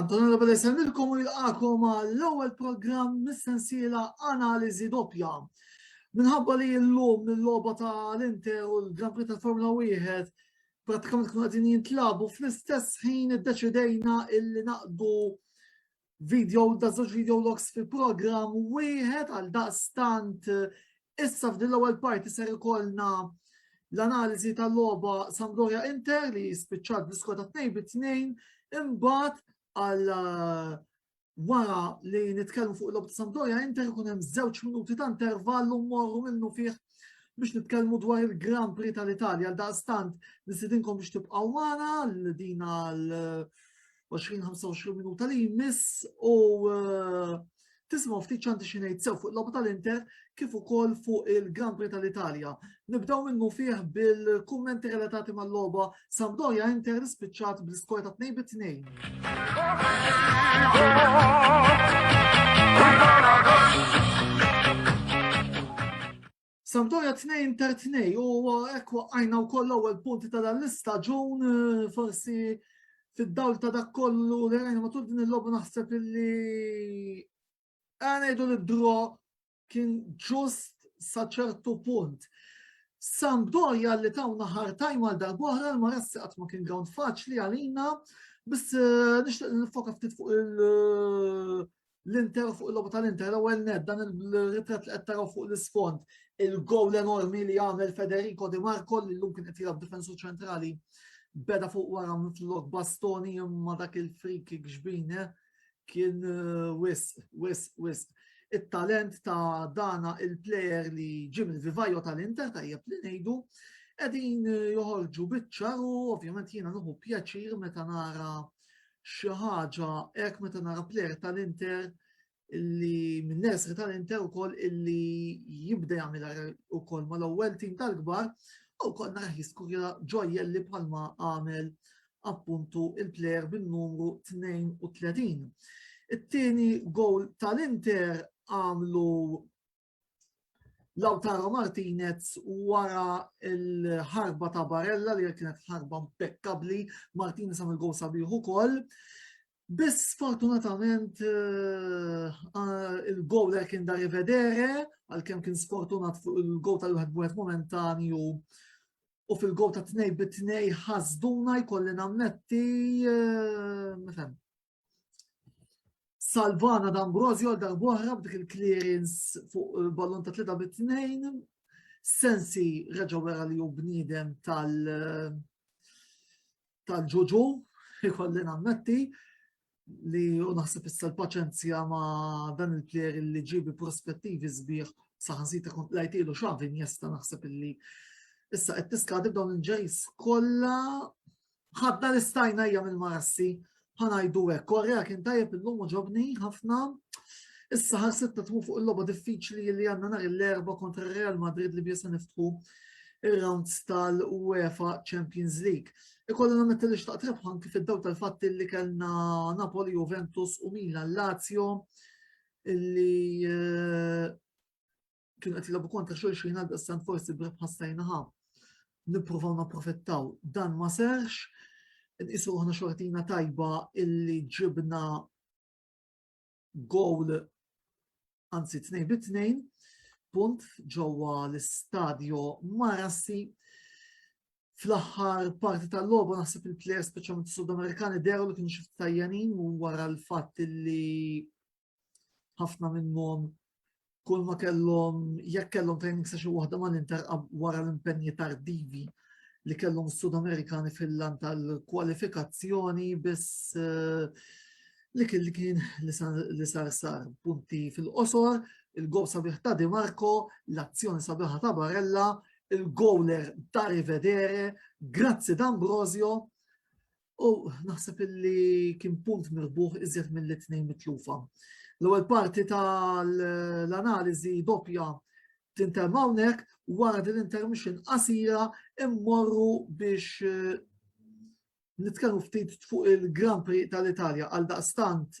Antonio Labelle semmilkom u jilqakom l-ewwel programm mis-sensiela Analiżi Doppja. Minħabba li l-lum l-logħba ta' l-Inter u l-Grand Prix tal-Formula 1 pratikament kienu qegħdin jintlabu fl-istess ħin iddeċidejna illi naqdu video da żewġ video logs fi programm wieħed għal daqstant Issa f'din l-ewwel parti ser ikollna l-analiżi tal-logħba Sampdoria Inter li spiċċat bl-iskor ta' 2 bi 2 imbagħad għal eh, wara li nitkellmu fuq l-logħba ta' Sampdoria Inter ikun hemm żewġ minuti ta' intervall u mmorru minnu fih biex nitkellmu dwar il-Grand Prix tal-Italja. Daqstant, nisidinkom biex tibqaw għana l-dina l 20-25 minuta li jmiss u eh, tisma' ftit ċanti xi ngħid sew fuq logħba tal-Inter kif ukoll fuq il-Grand Prix tal-Italja. Nibdew minnu fih bil-kummenti relatati mal-logħba Sampdoria Inter spiċċat bl-iskor ta' 2 bit 2. Sampdoria 2 ta' 2 u hekk waqqajna wkoll l-ewwel punti ta' dan l-istaġun eh, forsi fid-dawl ta' dak kollu li rajna matul din il-logħba naħseb illi għanajdu li dro kien ġust sa ċertu punt. Sampdoria li tawna ħar tajma għal darbohra l-marassi qatt ma kien ground faċli għalina, biss eh, nixtieq nifoka ftit fuq il- eh, l-Inter fuq il-logħba tal-Inter l-ewwel net dan il-ritratt li qed taraw fuq l-isfond il-gowl enormi li għamel Federico Di Marco li llum kien qed jilgħab difensur ċentrali beda fuq wara mitlok bastoni imma dak il-free kick xbine eh, kien eh, wis, wis, wis. It-talent ta' dana il-player li ġim il-vivajo tal-Inter tajjeb li ngħidu qegħdin eh, joħorġu biċċar u ovvjament jiena nuħu pjaċir meta nara xi ħaġa hekk meta nara plejer tal-Inter li minn nesri tal-Inter ukoll illi jibda jagħmel ukoll mal-ewwel tim tal-kbar u kol nara jiskurja ġojjelli bħalma għamel appuntu il-plejer bin-numru 32. It-tieni gowl tal-Inter għamlu Lautaro Martinez wara l-ħarba ta' Barella li kienet ħarba impeccabli, Martinez għamil gol sabiħ ukoll. Biss fortunatament eh, eh, il-gol li kien da rivedere, għal-kem kien sfortunat fuq il-gol tal-wieħed b'wieħed momentanju u fil-gol ta' tnej bit-tnej ħazduna jkolli namnetti, eh, mifem, Salvana D'Ambrosio għal darbohra b'dik il-clearance fuq eh, ballon ta' 3 bit 2 Sensi reġa wera li hu bniedem tal- eh, tal-ġuġu, ikolli nammetti, li u naħseb issa l-paċenzja ma dan il-player li ġibi prospettivi sbieħ saħansita kont lajtilu xavin jesta naħseb illi issa qed tiskadi b'dawn il-ġejs kollha Ħadna li stajna hija mill-marassi, ħanajdu hekk, Korea kien tajjeb illum u ġobni ħafna. Issa ħar sitta tmu fuq il-logħba diffiċli li għandna nhar l-erba' kontra Real Madrid li biesa niftħu ir-rounds tal-UEFA Champions League. Ikollu nammetti li xtaqt rebħa anki fid-daw tal-fatti li kellna Napoli, Juventus u Milan Lazio li eh, kienu qed jilagħbu kontra xulxin għal daqstant forsi b'rebħa stajnaha nippruvaw napprofittaw. Dan ma serx, nqisu aħna xortina tajba illi ġibna gowl anzi tnejn bi tnejn punt ġewwa l-istadju Marassi fl-aħħar parti tal-logħba naħseb il-plejers speċjalment Sud-Amerikani deru li kienu xi tajjanin u wara l-fatt li ħafna minnhom kull ma kellhom jekk kellhom training session waħda ma l-Inter wara l-impenji tardivi li kellhom Sud Amerikani fil-lan tal-kwalifikazzjoni biss eh, li kien li kien li sar sar punti fil-qosor, il-gol sabiħ ta' Di Marco, l-azzjoni sabiħa ta' Barella, il-gowler ta' Rivedere, grazzi d'Ambrosio, U naħseb illi kien punt mirbuħ iżjed mill-tnejn mitlufa. L-ewwel parti tal-analiżi doppja tinterm hawnhekk wara din intermission qasira immorru biex eh, nitkellmu ftit fuq il-Grand Prix tal-Italja għal daqstant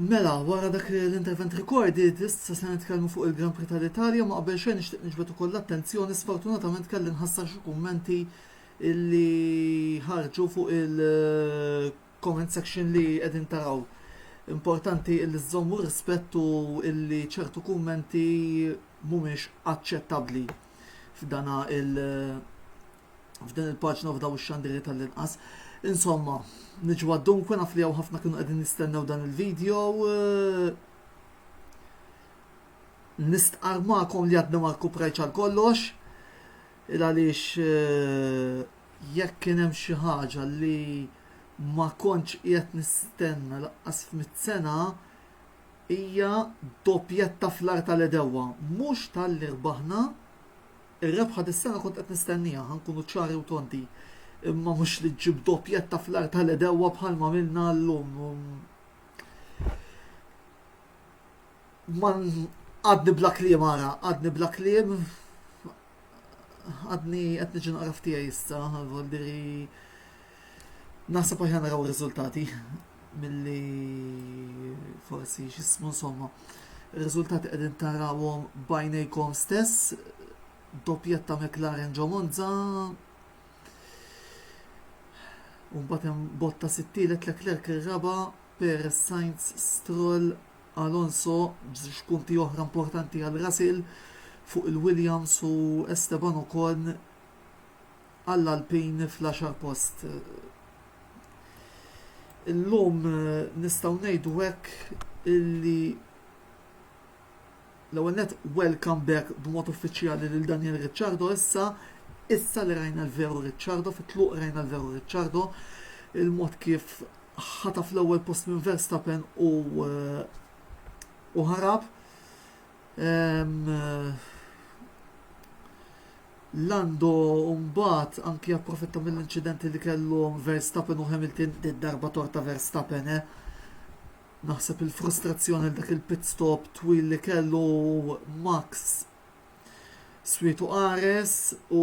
Mela, wara dak l-intervent recorded, issa se nitkellmu fuq il-Grand Prix tal-Italja, ma qabel xejn nixtieq niġbed ukoll l-attenzjoni, sfortunatament kelli nħassar xi kummenti li ħarġu fuq il- comment section li qegħdin taraw. Importanti li żżommu rispett u li ċertu kummenti mhumiex aċċettabbli f'dana il f'din il-paġna f'daw ix-xandiri tal-inqas. Insomma, niġu dunque naf li ħafna kienu qegħdin nistennew dan il-video. Eh, nistqarmakom li għadna ma rkuprajċ għal kollox. Il għaliex eh, Jekk kien hemm xi ħaġa li ma kontx qiegħed nistenna lanqas f'mitt sena, hija doppjetta fl-agħar tal-għedewwa. Mhux talli rbaħna, ir-rebħa dis-sena kont qed nistennieha, ħa nkunu ċari u tonti, imma mhux li ġġib doppjetta fl-agħar tal-għedewwa bħalma għamilna llum. Għadni bla kliem ara, għadni bla kliem Għadni qed niġi naqra f'tiegħi issa, voldiri naħseb aħjar naraw ir-riżultati milli forsi x'ismu insomma. Ir-riżultati qegħdin tarawhom bajnejkom stess, doppjetta McLaren ġo Monza, Umbat hemm botta sittilet Leclerc ir-raba, Perez Sainz Stroll Alonso b'żewġ punti oħra importanti għal Russell fuq il-Williams u Esteban Ocon għall-Alpine fl-għaxar post. Illum nistgħu ngħidu hekk illi L-ewwel nett welcome back b'mod uffiċjali lil Daniel Ricciardo issa, issa li rajna l-veru Ricciardo, fit-tluq rajna l-veru Ricciardo, il-mod kif ħataf l-ewwel post minn Verstappen u u ħarab. Lando mbagħad anki approfitta mill-inċidenti li kellu Verstappen u Hamilton darba torta Verstappen, eh? Naħseb il-frustrazzjoni l-dak il-pit stop twil li kellu Max swietu qares u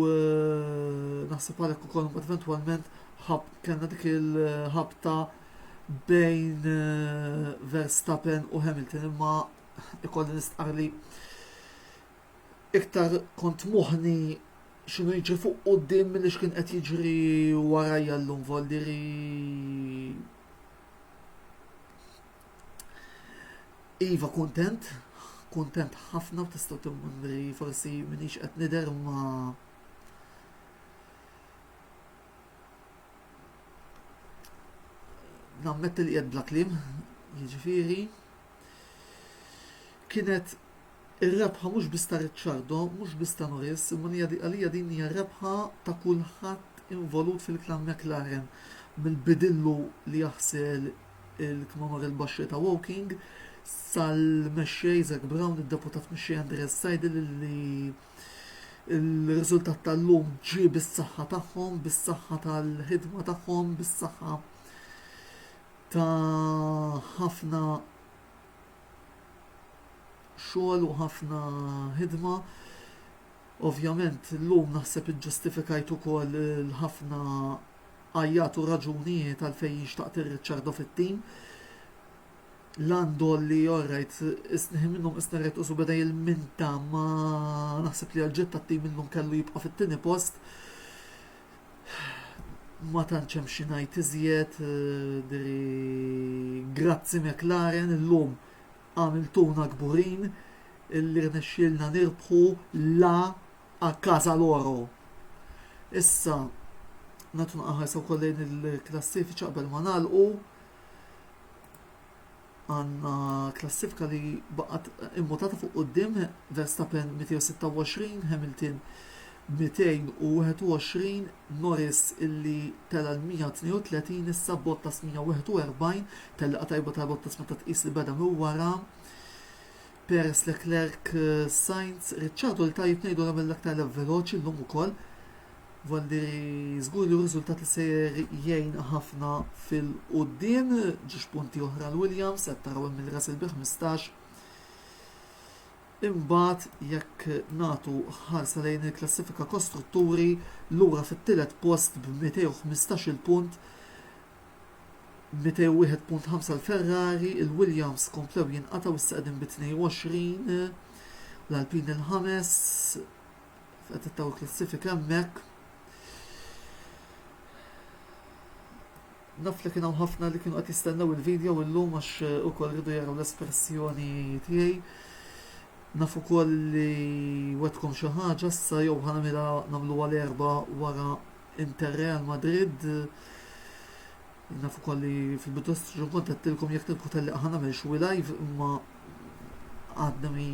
eh, naħseb għalhekk ukoll mbagħad eventwalment kellna dik il-ħabta bejn eh, Verstappen u Hamilton imma ikolli nistqar li iktar kont moħni xinu jiġri fuq qoddim li xkien qed jiġri warajja l-lum voldiri Iva kuntent, kuntent ħafna u tistgħu timmundri forsi minix qed nidher ma nammetti li qed bla kliem, jiġifieri kienet Ir-rebħa mhux biss ta' Ricciardo, mhux biss ta' Norris, imma għalija din hija rebħa ta' kulħadd involut fil-klam McLaren, mill-bidillu li jaħsel il-kmamar il-baxxej ta' Woking, sal-mexxej Zak Brown, id-deputat mexxej Andreas Seidl li l-riżultat tal-lum ġie bis-saħħa tagħhom, bis-saħħa tal-ħidma tagħhom, bis-saħħa ta' ħafna xogħol u ħafna ħidma. Ovvjament llum naħseb iġġustifikajt ukoll il-ħafna għajjat u raġunijiet għalfejn jien xtaqt ir-Riċċardo fit-tim. Landol li orrajt isniħi minnhom isna rajt usu beda jilminta ma naħseb li għal-ġett tat-tim illum kellu jibqa' fit-tieni post. Ma tantx hemm xi ngħid iżjed, diri grazzi McLaren illum għamiltuna kburin illi rnexxielna nirbħu la a casa loro. Issa nagħtu naqaħarsa wkoll lejn il-klassifiċi qabel ma nagħlqu. Għandna klassifika li baqgħet immutata fuq quddiem, Verstappen 226, Hamilton 221, Norris illi tela' l-132 issa Bottas 141, telliqa tajba ta' Bottas meta tqis li beda minn wara. Perez, Leclerc, Sainz, Ricciardo li tajjeb ngħidu għamel l-aktar lap veloċi llum ukoll. Valli żgur li riżultat li sejjer jgħin ħafna fil-quddiem, ġiex punti oħra l-Williams, qed taraw hemm il-Russell bi 15 Imbagħad jekk nagħtu ħarsa lejn il-klassifika kostrutturi lura fit-tielet post b'215 punt 201.5 l-Ferrari, il-Williams komplew jinqatgħu issa qegħdin bi 22, l-Alpine il-ħames, qed ittaw klassifika hemmhekk. Naf li kien hawn ħafna li kienu qed jistennew il-video illum għax eh, ukoll ridu jaraw l-espressjoni tiegħi. Naf ukoll li wetkom xi ħaġa issa jew ħanamilha nagħmluha l-erba' wara Inter Real Madrid Naf ukoll li fil-bidu ta' staġun kont għedtilkom jekk tilqu telliq ħa nagħmel xwi live imma għadna mi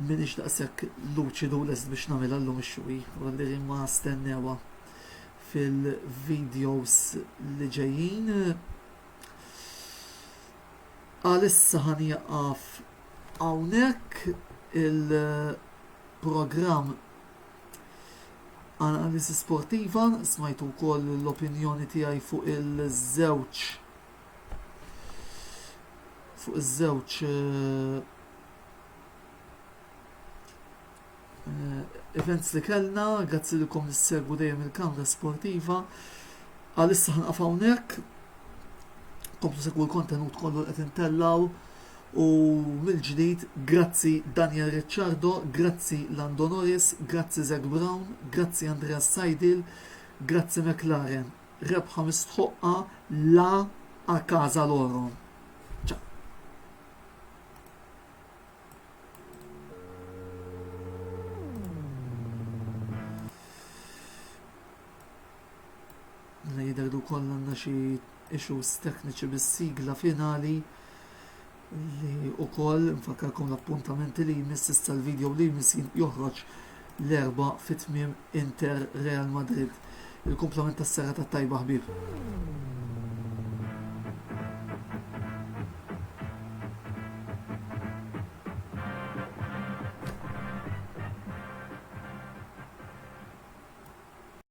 minix daqshekk luċidu lest biex nagħmel llum ix-xwi u għalli ma stennewa fil-videos li ġejjin. Għalissa ħan jaqaf hawnhekk il-programm Analiżi sportiva, smajtu wkoll l-opinjoni tiegħi fuq il-żewġ fuq iż-żewġ eh, eh, events li kellna, grazzi li kom nissegwu dejjem il-kamra sportiva. Għalissa ħanqaf hawnhekk, komplu segwu l-kontenut kollu qed intellaw U mill-ġdid, grazzi Daniel Ricciardo, grazzi Lando Norris, grazzi Zak Brown, grazzi Andreas Seidl, grazzi McLaren. Rebħa mistħoqqa la a casa loro. Mela jidher li wkoll għandna xi issues tekniċi bis-sigla finali li wkoll nfakkarkom l-appuntamenti li jmiss issa l-video li jmiss joħroġ l-erba fit-tmiem Inter Real Madrid. Il-komplement tas-serra tat-tajba ħbib.